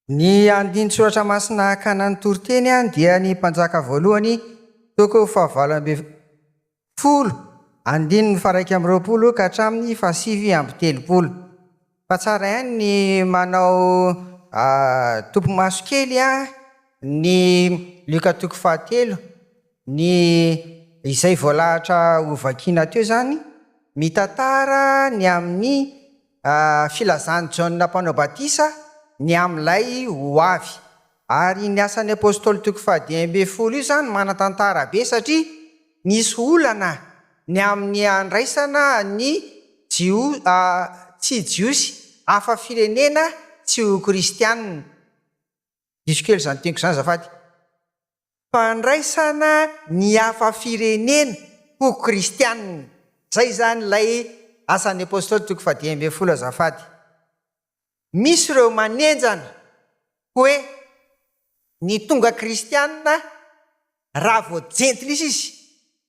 Ny andinin-tsoratra masina hakana ny toriteny dia ny Mpanjaka voalohany, toko fahavalo ambin'ny folo, andininy faharaika amby roapolo ka hatramin'ny fahasivy amby telopolo. Fa tsara ihany ny manao topimaso kely an! Ny Lioka toko fahatelo, ny izay voalahatra hovakiana teo izany, mitantara ny amin'ny filazan'i Jaona Mpanao Batisa ny amin'ilay ho avy. Ary ny asan'ny Apôstôly toko fahadimy ambin'ny folo io izany manan-tantara be satria nisy olana ny amin'ny handraisana ny Jio tsy Jiosy hafa firenena tsy ho Kristianina. Diso kely izany teniko izany azafady. Fandraisana ny hafa firenena ho Kristianina. Izay izany ilay asan'ny Apôstôly toko fahadimy ambin'ny folo azafady. Misy ireo manenjana hoe ny tonga kristiana raha vao jentilisa izy,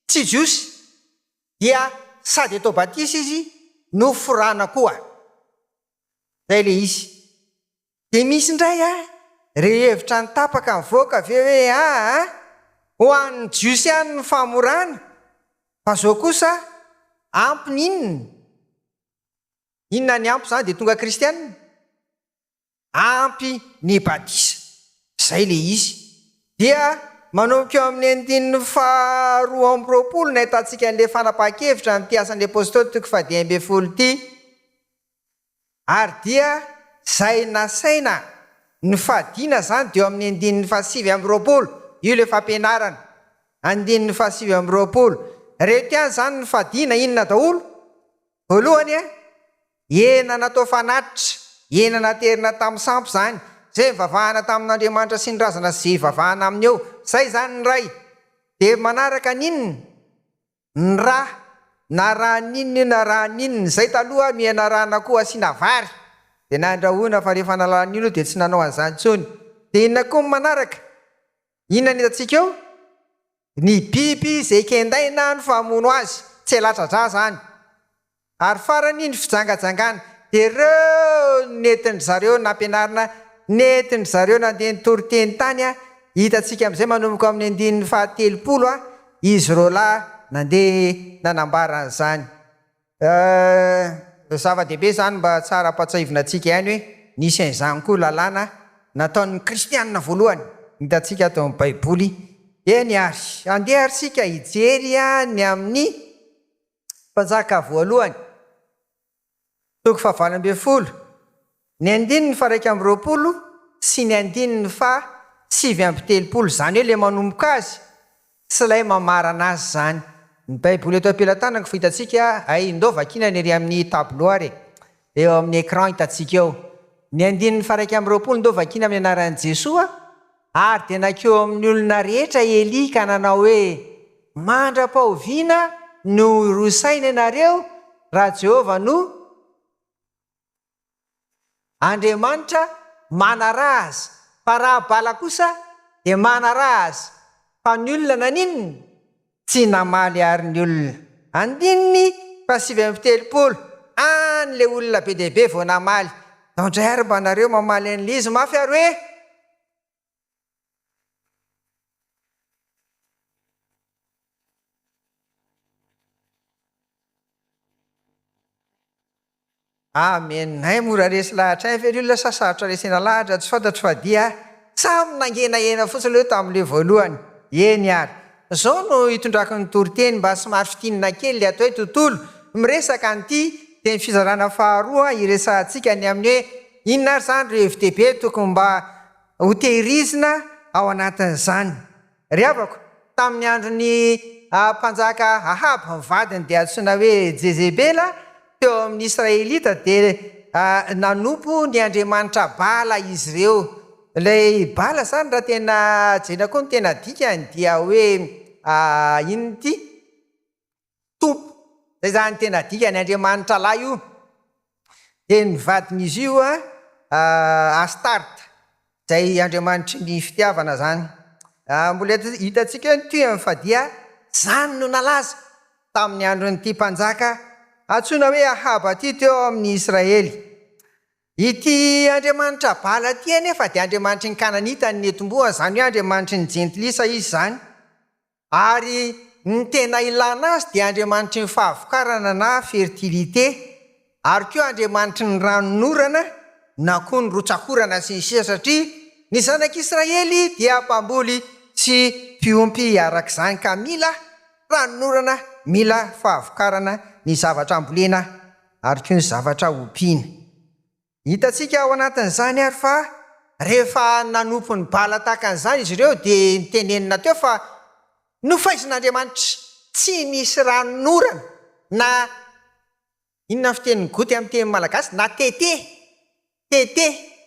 tsy jiosy, dia sady atao batisa izy no forana koa. Izay ilay izy. Dia misy indray a, ireo hevitra nitapaka nivoaka ve hoe aa, ho an'ny jiosy ihany ny famorana, fa izao kosa ampiny inona? Inona ny ampy izany dia tonga kristiana? Ampy ny batisa. Izay ilay izy. Dia manomboka eo amin'ny andininy faharoa amby roapolo no ahitantsika an'ilay fanapahan-kevitra amin'ity Asan'ny Apostoly toko fahadimy ambin'ny folo ity. Ary dia izay nasaina nifadiana izany dia eo amin'ny andininy fahasivy amby roapolo. Io ilay fampianarana. Andininy fahasivy amby roapolo. Ireto ihany izany nifadiana, inona daholo? Voalohany e, hena natao fanatitra, hena naterina tamin'ny sampy izany, izay nivavahana tamin'Andriamanitra sy ny razana sy izay ivavahana aminy eo, izay izany ny ray. Dia manaraka an'inona? Ny ra, na ra an'inona io na ra an'inona, izay taloha no ianarana akoho asiana vary, dia nandrahoina fa rehefa nahalala an'inona io dia tsy nanao an'izany intsony. Dia inona koa ny manaraka? Inona no hitantsika eo? Ny biby izay kendaina no famono azy, tsy elatradraha izany. Ary farany ny fijangajangana, dia ireo nentin-dry zareo nampianarina, nentin-dry zareo nandeha nitory teny tany, hitantsika amin'izay manomboka ao amin'ny andininy faha telopolo, izy roalahy nandeha nanambara an'izany. Ehh zava dehibe zany mba tsara ampatsahivina antsika ihany hoe nisy an'izany koa lalàna nataon'ny kristianina voalohany hitantsika ato amin'ny baiboly eny ary andeha ary sika hijery ny amin'ny mpanjaka voalohany toko fahavalo ambin'ny folo Ny andininy faharaika amby roapolo sy ny andininy faha sivy amby telopolo, izany hoe ilay manomboka azy sy ilay mamarana azy izany. Ny Baiboly eto am-pelatanako fa hitantsika, hay, ndao vakiana ny ery amin'ny tableau ary e, eo amin'ny écran hitantsika eo. Ny andininy faharaika amby roapolo ndao vakiana amin'ny anaran'i Jesoa, Ary dia nankeo amin'ny olona rehetra Elia ka nanao hoe, Mandra-pahoviana no hirosaina ianareo, raha Jehovah no. Andriamanitra manaraha azy, fa raha bala kosa dia manaraha azy, fa ny olona naninona? tsy namaly àry ny olona. Andininy fahasivy amby telopolo, any ilay olona be dia be vao namaly, Nao indray ary mba nareo mamaly an'ilay izy mafy ary hoe. Amen hay mora resy lahatra hay ve le olona sa sarotra resena lahatra tsy fantatro fa dia samy nangenahena fotsiny le tamle voalohany eny ary zao no hitondrako ny toriteny mba somary fintinina kely le atao hoe tontolo miresaka an'ity teny fizarana faharoa hiresahantsika ny amin'ny hoe Inona ary izany ireo hevi-dehibe tokony mba hotehirizina ao anatin'izany? Ry havako, tamin'ny andron'ny mpanjaka Ahaba, ny vadiny dia antsoina hoe Jezebela, teo amin'ny Israelita dia nanompo ny andriamanitra Bala izy ireo. Ilay Bala izany raha tena jerena koa ny tena dikany dia hoe inona ity? Tompo. Izay izany ny tena dikany, Andriamanitra lahy io. Dia ny vadin'izy io Astarta, izay andriamanitry ny fitiavana izany. Mbola hitantsika eo ny tohiny fa dia izany no nalaza tamin'ny andron'ity mpanjaka antsoina hoe Ahaba ity teo amin'ny Israely. Ity andriamanitra Bala ity anefa dia andriamanitry ny Kananita ny nentim-bohony, izany hoe andriamanitry ny jentilisa izy izany. Ary ny tena ilana azy dia andriamanitry ny fahavokarana na fertilité, ary koa andriamanitry ny ranon'orana na koa ny rotsakorana sy ny sisa satria ny zanak'Israely dia mpamboly sy mpiompy araka izany ka mila ranon'orana, mila fahavokarana ny zavatra ambolena ary koa ny zavatra ompiana. Hitantsika ao anatin'izany ary fa rehefa nanompo ny Bala tahaka an'izany izy ireo dia notenenina teo fa nofaizin'Andriamanitra tsy nisy ranon'orana na inona ny fitenin'i Goty amin'ny teny malagasy na tete, tete,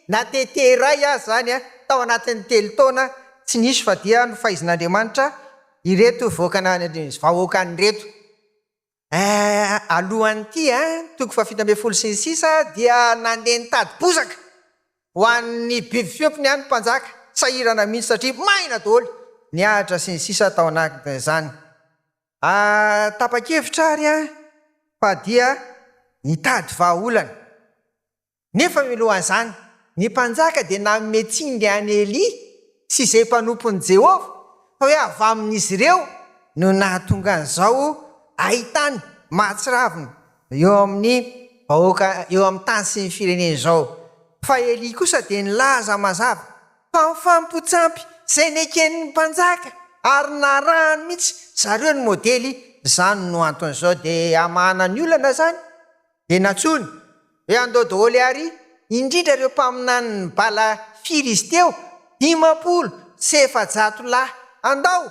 na tete iray aza izany tao anatin'ny telo taona tsy nisy fa dia nofaizin'Andriamanitra ireto vahoakan'Andriamanitra ireto. Eh, alohan'ity eh, toko fahafito ambin'ny folo sy ny sisa, dia nandeha nitady bozaka ho an'ny biby fiompiny ihany ny mpanjaka, sahirana mihitsy satria maina daholo ny ahitra sy ny sisa tao anatin'izany. Ah, tapa-kevitra ary aho fa dia nitady vahaolana. Nefa milohazany, ny mpanjaka dia nanome tsindry an'i Elia sy izay mpanompon'i Jehovah fa hoe avy amin'izy ireo no nahatonga an'izao haintany mahatsiravina eo amin'ny vahoaka eo amin'ny tany sy ny firenena izao. Fa Elia kosa dia nilaza mazava fa mifampotsampy izay neken'ny mpanjaka ary narahany mihitsy zareo ny modely izany no anton'izao dia hamahana ny olana izany. Dia nantsoiny hoe andao daholo àry, indrindra ireo mpaminanin'i Bala firy izy teo? dimampolo sy efajato lahy, andao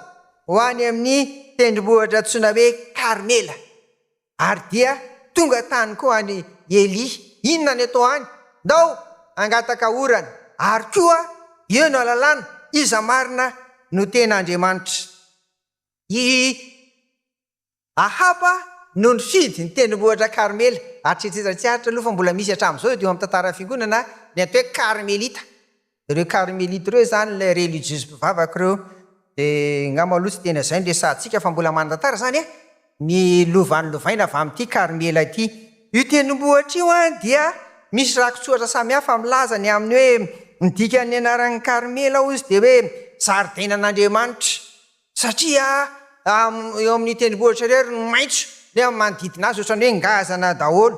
ho any amin'ny tendrombohitra antsoina hoe Karmela. Ary dia tonga tany koa any Elia. Inona no atao any? Ndao hangataka orana, ary koa eo no alalana iza marina no tena Andriamanitra. I. Ahaba no nifidy ny tendrombohitra Karmela. Aritretreta tsy aritra aloha fa mbola misy hatramin'izao eto amin'ny tantaran'ny fiangonana ny atao hoe Karmelita. Ireo Karmelita ireo izany ilay relijiozy mpivavaka ireo. Dia angamba aloha tsy tena izay no resahantsika fa mbola manan-tantara izany an! Ny lova nolovaina avy amin'ity Karmela ity. Io tendrombohitra io dia misy rakitsoratra samihafa milaza ny amin'ny hoe ny dikan'ny anaran'i Karmela hozy dia hoe zaridainan'Andriamanitra. Satria eo amin'ny tendrombohitra irery no maitso ny amin'ny manodidina azy, ohatran'ny hoe ngazana daholo.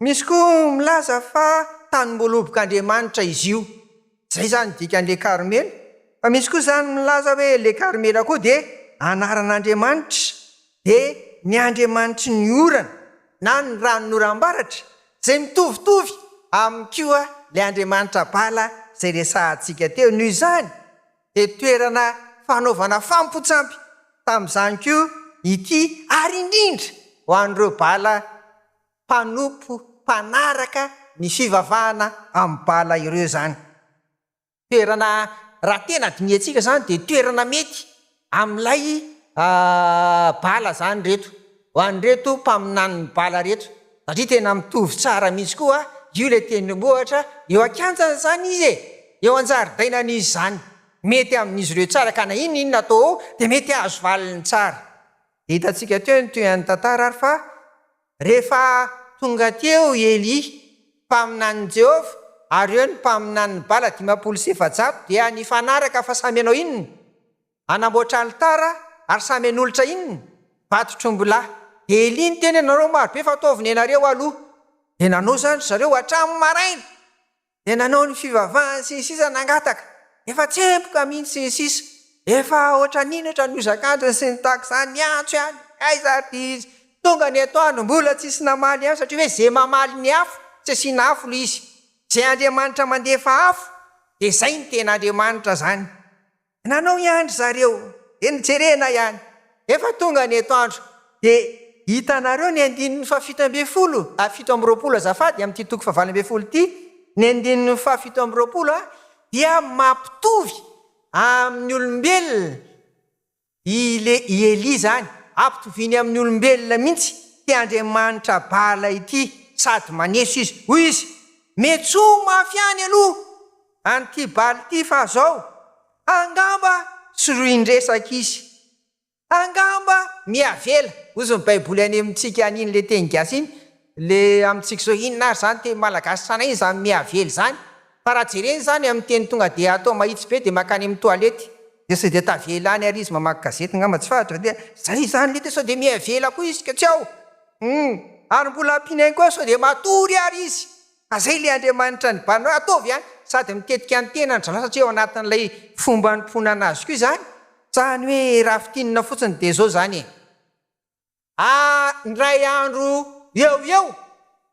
Misy koa milaza fa tanimbolobok'Andriamanitra izy io, izay izany ny dikan'ilay Karmela, fa misy koa izany milaza hoe ilay Karmela koa dia anaran'Andriamanitra, dia ny Andriamanitry ny orana na ny ranon'oram-baratra, izay mitovitovy amin'ny koa ilay Andriamanitra Bala izay resahantsika teo. Noho izany. dia toerana fanaovana fampotsampy tamin'izany koa ity ary indrindra ho an'ireo bala mpanompo mpanaraka ny fivavahana amin'ny bala ireo izany. Toerana, raha tena dinihantsika izany dia toerana mety amin'ilay bala izany ireto. Ho an'ireto mpaminany mibala reto satria tena mitovy tsara mihitsy koa io ilay tendrombohitra eo an-kianjany izany izy e! eo an-jaridainany izy izany, mety amin'izy ireo tsara ka na inona inona atao ao dia mety hahazo valiny tsara. Dia hitantsika teo ny tohinan'ny tantara ary fa rehefa tonga teo i Elia, mpaminanin'i Jehovah, ary eo ny mpaminanin'i Bala dimampolo sy efajato dia nifanaraka fa samy hanao inona? Hanamboatra alitara ary samy hanolotra inona? Vato trombilahy. Dia elia ny teny anareo maro be fa ataovy ny anareo aloha. Dia nanao izany ry zareo hatramin'ny maraina. Dia nanao ny fivavahany sy ny sisa nangataka. Efa tsemboka mihintsy sy ny sisa. Efa ohatran'ino ohatran'ny hozak'antony sy ny tahaka izany ny antso ihany. Aiza ary dia izy tonga ny atoandro mbola tsisy namaly ihany satria hoe izay mamaly ny afo tsy asiana afo ilay izy. Izay Andriamanitra mandefa afo dia izay no tena Andriamanitra izany. Nanao ihany ry zareo dia nijerena ihany. Efa tonga ny eto andro dia hitanareo ny andininy fahafito ambin'ny folo a fito amby roapolo azafady amin'ity toko fahavalo ambin'ny folo ity ny andininy fahafito amby roapolo a dia mampitovy amin'ny olombelona i le i Elia zany ampitoviany amin'ny olombelona mintsy ty andriamanitra Bala ity sady maneso izy hoy izy metsoa mafy any aloha An'ity bal ity fa zao angamba sorohin-dresaka izy. Angamba mihavela hozy ny baiboly any amintsika any iny le teny gasy iny le amintsika zao inona ary zany teny malagasy sanay iny zany mihavela izany fa raha jerena izany amin'ny teny tonga dia atao mahitsy be dia mankany amin'ny toalety dia sao dia tavela any ary izy mamaky gazety angamba tsy fantatra dia zay izany le teny sao dia mihavela koa izy ka tsy ao hum ary mbola ampiana ihany koa sao dia matory ary izy Ka zay ilay Andriamanitra ny bano ataovy a! Sady mitetika ny tenany zaho satria ao anatin'ilay fomba anompoana an'azy koa izany, sa ny hoe raha fintinina fotsiny dia zao zany e! A! Indray andro eo ho eo,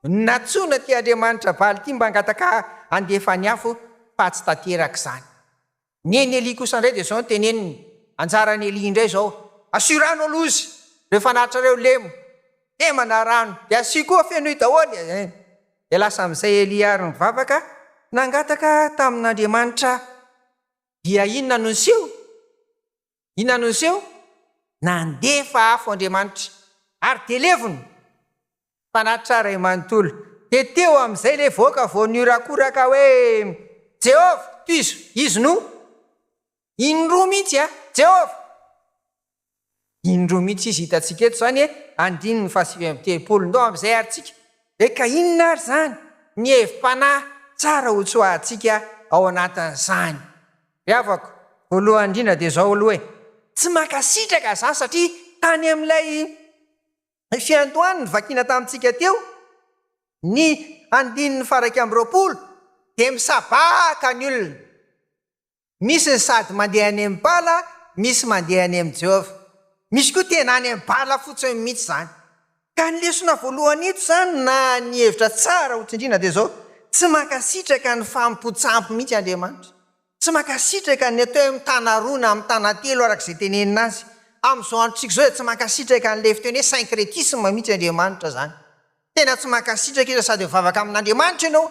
nantsoina ity Andriamanitra Baaly ity mba hangataka handefa ny afo fa tsy tanteraka izany. Ny an'i Elie kosa indray dia izao no teneniny, Anjaran'i Elie indray izao, Asio rano aloha izy, rehefa anatrareo lemo, lemana rano, dia asio koa fenoy daholo e! Dia lasa amin'izay Elie ary nivavaka, nangataka tamin'Andriamanitra, dia inona no niseho? Inona no niseho? Nandefa afo Andriamanitra, ary dia levona! Fanahy tsara iray manontolo, dia teo amin'izay ilay vohoka vao nihorakoraka hoe, Jehovah, tohizo! Izy no. Indroa mihitsy an! Jehovah! Indroa mihitsy izy hitantsika eto izany e, andininy fahasivy amby telopolo. Ndao amin'izay àry tsika. Dia ka inona àry izany ny hevi-panahy tsara hotsoahantsika ao anatin'izany? Ry havako, voalohany indrindra dia izao aloha e! Tsy mankasitraka za satria tany amin'ilay fiandohan'ny nivakiana tamintsika teo ny andininy faha iraika amby roapolo dia misabaka ny olona. Misy ny sady mandeha any amin'ny bala, misy mandeha any amin'i Jehovah. Misy koa tena any amin'ny bala fotsiny mihitsy izany. Ka ny lesona voalohany eto izany na ny hevitra tsara ho tsindriana dia izao, tsy mankasitraka ny fahampotsahampo mihitsy Andriamanitra. Tsy mankasitraka ny atao hoe mitana roa na mitana telo araka izay tenenina azy. Amin'izao androntsika izao dia tsy mankasitraka an'ilay fiteny hoe syncrétisme mihitsy Andriamanitra izany. Tena tsy mankasitraka izy fa sady mivavaka amin'Andriamanitra ianao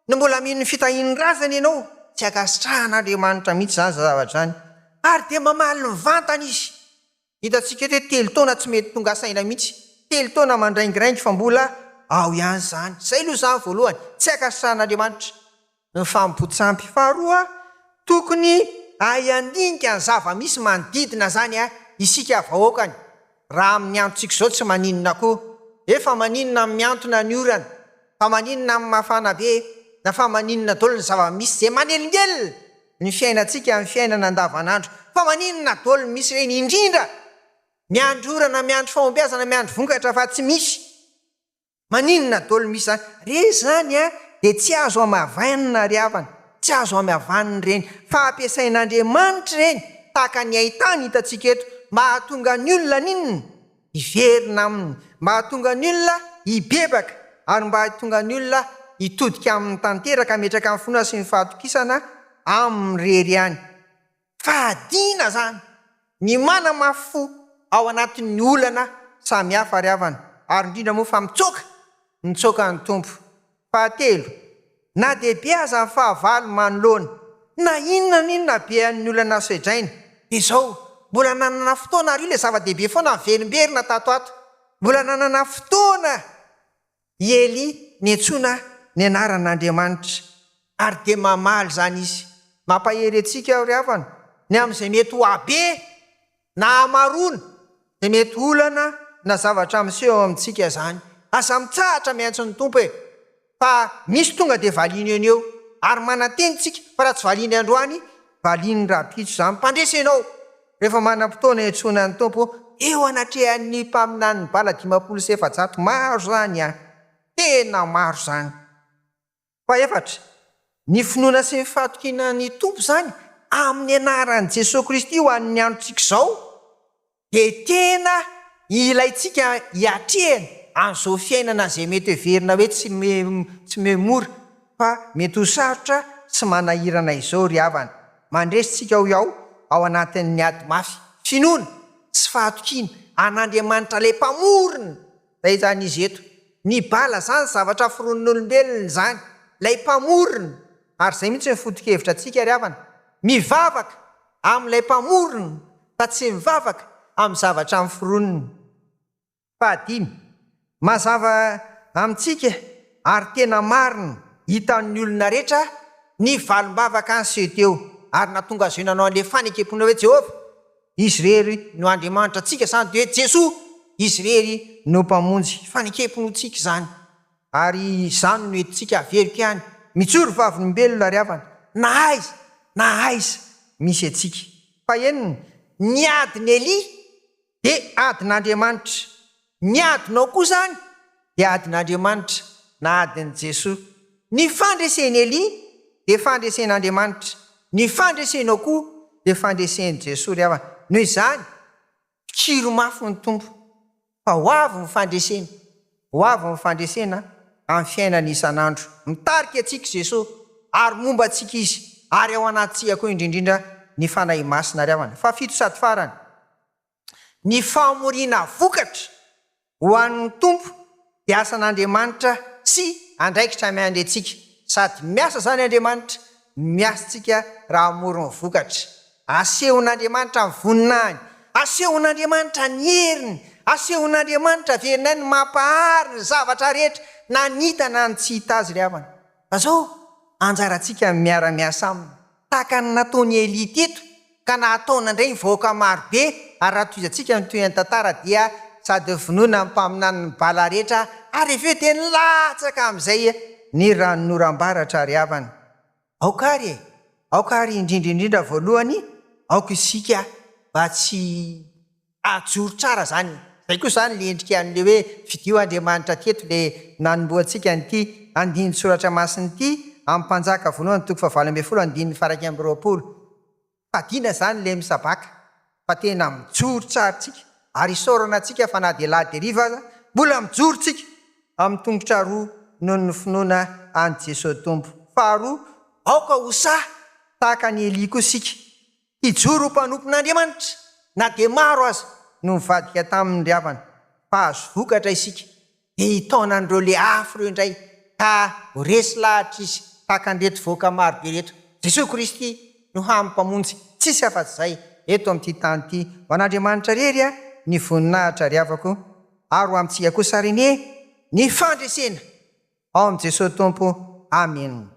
no mbola mino ny fitahian'ny razana ianao. Tsy ankasitrahan'Andriamanitra mihitsy izany zavatra izany ary dia mamaly mivantana izy. Hitantsika eto hoe telo taona tsy mety tonga saina mihitsy. Telo taona mandraingiraingy fa mbola ao ihany izany. Izay aloha izany voalohany. Tsy ankasitrahan'Andriamanitra ny fahampoan-tsampy. Faharoa, tokony hahay handinika ny zava-misy manodidina izany isika vahoakany. Raha amin'ny androntsika izao tsy maninona koa. Hoe fa maninona ny mihantona ny orana? Fa maninona ny mafana be? Na fa maninona daholo ny zava-misy izay manelingelina? ny fiainantsika amin'ny fiainana andavanandro fa maninona dol misy ireny indrindra miandry orana miandry fahombiazana miandry vokatra fa tsy misy maninona dol misy zany re zany a de tsy azo amavainina ry havana tsy azo amavanina ireny fa ampiasain'Andriamanitra ireny tahaka ny haintany hitantsika eto mba hahatonga ny olona haninona hiverina aminy, mba hahatonga ny olona hibebaka ary mba hahatonga ny olona hitodika aminy tanteraka, hametraka ny finoana sy ny fahatokisana aminy irery ihany. Fahadiana izany ny manamafy fo ao anatin'ny olana samihafa ry havana, ary indrindra moa fa mitsoaka, mitsoaka ny Tompo Fahatelo, na dia be aza ny fahavalo manoloana na inona na inona habean'ny olana soedraina, dia izao, mbola nanana fotoana ary io ilay zava-dehibe foana niverimberina tato ho ato, mbola nanana fotoana i Elia niantsoana ny anaran'Andriamanitra. Ary dia mamaly izany izy. Mampahery antsika aho ry havana, ny amin'izay mety ho habe Na hamaroana dia mety olana na zavatra miseho eo amintsika izany. Aza mitsahatra miantso ny Tompo e! Fa misy tonga dia valiany eo no eo. Ary manantena isika fa raha tsy valiany androany, valiany rahampitso izany. Mpandresy ianao! Rehefa manam-potoana hiantsoana ny Tompo eo anatrehan'ny mpaminanin'ny bala dimampolo sy efajato, maro izany an! Tena maro izany! Fahefatra, ny finoana sy ny fahatokiana ny Tompo izany amin'ny anaran'i Jesoa Kristy ho an'ny androntsika izao dia tena ilaintsika hiatrehana an'izao fiainana izay mety heverina hoe tsy me mora fa mety ho sarotra sy manahirana izao ry havana. Mandresy tsika ao iaho ao anatin'ny ady mafy, finoana sy fahatokiana an'Andriamanitra ilay mpamorona. Zay zany izy eto. Ny bala zany zavatra foronin'olombelona izany, ilay mpamorona, ary zay mihitsy no foto-kevitra antsika ry havana. Mivavaka amin'ilay mpamorona fa tsy mivavaka amin'ny zavatra noforoniny. Fahadimy, mazava amintsika ary tena marina hitan'ny olona rehetra ny valim-bavaka an'i Seo teo ary nahatonga azy io nanao an'ilay fanekem-pinoana hoe Jehovah. Izy irery no Andriamanitra antsika, izany dia hoe Jesoa. Izy irery no Mpamonjy. Fanekem-pinoantsika izany. Ary izany no entintsika haveriko ihany. Mijoro vavolombelona ary havana, na aiza na aiza misy antsika. Fahenina, Ny adin'i Elia dia adin'Andriamanitra. Ny adinao koa izany dia adin'Andriamanitra na adin'i Jesoa. Ny fandresen'i Elia dia fandresen'Andriamanitra, ny fandresenao koa dia fandresen'i Jesoa ry havana. Noho izany, mpikiro mafy ny Tompo fa ho avy ny fandreseny, ho avy ny fandresena amin'ny fiainana isan'andro. Mitarika antsika Jesoa ary momba antsika Izy ary ao anatintsika koa indrindrindra ny Fanahy Masina ry havana. Fahafito sady farany. Ny fahamoriana vokatra ho an'ny Tompo dia asan'Andriamanitra sy andraikitra miandry antsika. Sady miasa izany Andriamanitra no miasa antsika raha hamory ny vokatra. Asehon'Andriamanitra ny voninahiny, asehon'Andriamanitra ny heriny, asehon'Andriamanitra averinay ny mampahary ny zavatra rehetra na ny hita na ny tsy hita Azy ry havana. Fa izao anjarantsika ny miara-miasa Aminy. tahaka ny nataony Elia teto ka nahataona indray ny vahoaka maro be ary raha tohizantsika ny tohinan'ny tantara dia sady vonoina ny mpaminanin'i Bala rehetra ary avy eo dia nilatsaka amin'izay ny ranonoram-baratra ry havana aoka ary e aoka ary indrindra indrindra voalohany aoka isika mba tsy Ajoro tsara zany. Zay koa zany le endrika an'le hoe fidio Andriamanitra aty eto le nanomboha antsika an'ity andinin tsoratra masina ity am mpanjaka voalohany toko fahavalo ambin'ny folo andininy faharaika amby roapolo. Fadiana zany le misabaka fa tena mijoro tsara tsika ary isaorana antsika fa na de la deriva aza mbola mijoro tsika am tongotra roa noho ny finoana any Jesoa Tompo. Faharoa aoka ho sahy tahaka an'i Elia koa sika. Hijoro ho mpanompon'Andriamanitra na dia maro aza no nivadika taminy ry havana. Mpahazo vokatra isika dia hitaona an'ireo le afo ireo indray ka ho resy lahatra izy tahaka an'ireto vahoaka marobe ireto. Jesoa Kristy no hany Mpamonjy tsisy afa-tsy izay eto amin'ity tany ity. Ho an'Andriamanitra irery ny voninahitra ry havako ary ho amintsika kosa ary anie ny fandresena ao amin'i Jesoa Tompo. Amena.